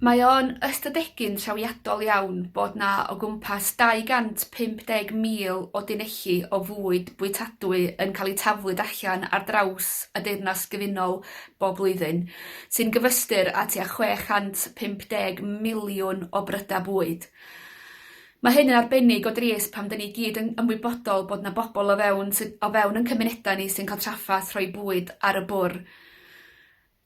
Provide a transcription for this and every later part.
Mae o'n ystadegyn trawiadol iawn bod 'na o gwmpas 250,000 o dunelli o fwyd bwytadwy yn cael eu taflu allan ar draws y Deyrnas Gyfunol bob blwyddyn, sy'n gyfystyr â tua 650 miliwn o brydau bwyd. Mae hyn yn arbennig o drist pan 'dyn ni i gyd yn ymwybodol bod 'na bobl o fewn sy- o fewn yn cymunedau ni sy'n cael trafferth rhoi bwyd ar y bwr'.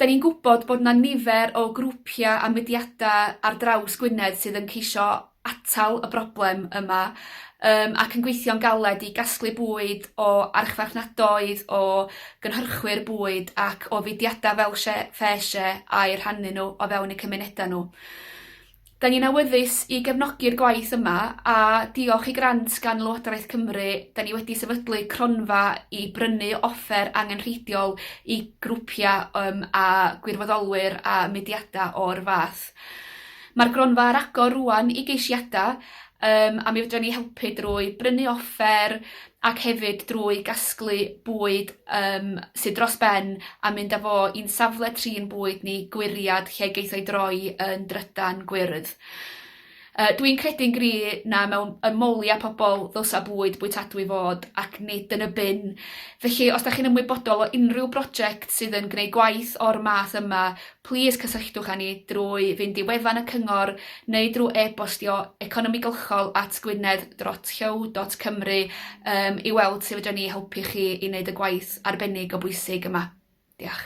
Da ni'n gwybod bod 'na nifer o grwpiau a mudiadau ar draws Gwynedd sydd yn ceisio atal y broblem yma yym ac yn gweithio'n galed i gasglu bwyd o archfarchnadoedd, o gynhyrchwyr bwyd ac o fudiadau fel Share Ffair Share a'u rhannu nhw o fewn eu cymunedau nhw. Da ni'n awyddus i gefnogi'r gwaith yma a diolch i grant gan Lywodraeth Cymru 'da ni wedi sefydlu cronfa i brynu offer angenrheidiol i grwpia' yym a gwirfoddolwyr a mudiada' o'r fath. Ma'r gronfa ar agor rŵan i geisiada' Yym, a mi fedran ni helpu drwy brynu offer ac hefyd drwy gasglu bwyd yym sy dros ben a mynd â fo i'n safle trin bwyd ni, Gwiriad, lle geith o 'i droi yn drydan gwyrdd. Yy dwi'n credu'n gry' na mewn ymoliad pobol ddylsa bwyd bwytadwy fod ac nid yn y bin felly os 'dach chi'n ymwybodol o unrhyw broject sydd yn gneud gwaith o'r math yma Plîs cysylltwch â ni drwy fynd i wefan y Cyngor neu drwy e-bostio economigylchol at gwynedd dot llyw dot cymru yym i weld sut fedrwn ni helpu chi i wneud y gwaith arbennig o bwysig yma. Diolch.